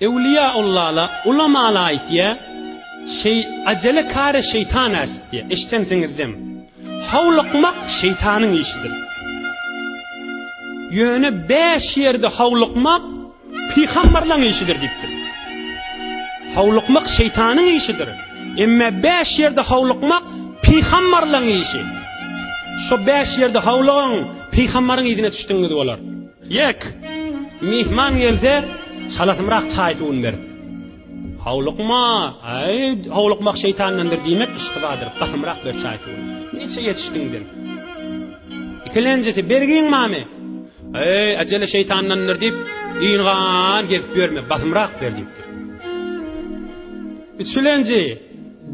Ewliýa Allala, ulamala aýtýa, Şeý, ajele kary şeýtan äşitýä. Eşdensiňizdem. Howlukmak şeýtanyň işidir. Ýöne bäş ýerde howlukmak pygamberlaň işidir diýipdir. Howlukmak şeýtanyň işidir. Emme bäş ýerde howlukmak pygamberlaň işi. Şo bäş ýerde howlugyň, pygamberyň yzyna düşdigiňiz bolar. Ýek, myhman gelse, çalasymrak çaý-suwuny berip. Howlukma, äý, howlukmak şeýtandandyr diýmek yştybadyr, basymrak ber çaý-suwuny. Niçe ýetişdiň sen? Ikilenjisi, Bergiň barmy? Äý, äjele şeýtandandyr diýip, ýygy-gan gezip ýörme, basymrak ber diýipdir. Üçülenji,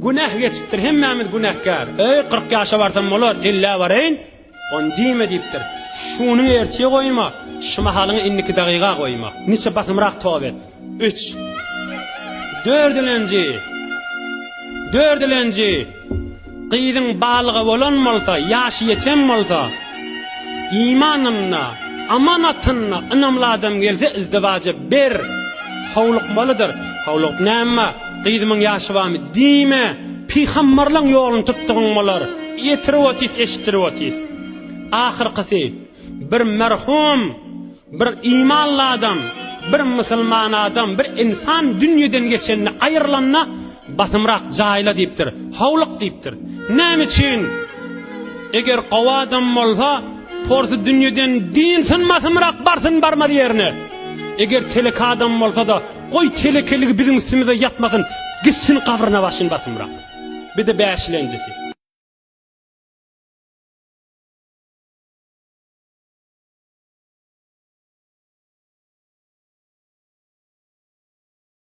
Günäh geçipdir, hemmämiz günäkär. Äý, kyrk ýaşa barsam bolar, ellä baraýyn. Ony diýme diýipdir. Şuny ertire goýma, şu mahalyňy indiki dagyga goýma. Niçe basymrak toba et. Üç. Dördülenji. Dördülenji. Gyzyň balyga bolan bolsa, ýaşy ýeten bolsa, imanynda, amanatynda ynamly adam gelse izdiwaja ber. Howlukmalydyr. Howlugyp näme? Gyzymyň ýaşy barmy? Diýme. Pygamberleň ýoluny tutdugyň bolar. Ýetirip otys, eşitdirip otys. Ahyrkysy, bir merhum, bir imanly adam, bir musulman adam, bir insan dünýeden geçende, aýrylanda, basymrak jaýla diýipdir, howluk diýipdir. Näme üçin? Eger gowy adam bolsa, porsy dünýeden diýilsin, basymrak barsyn, barmaz ýerine. Eger telek adam bolsa-da, Goý telekeligi biziň üstümize ýapmasyn gitsin gabryna başyn basymrak. Bide bäşilenjisi.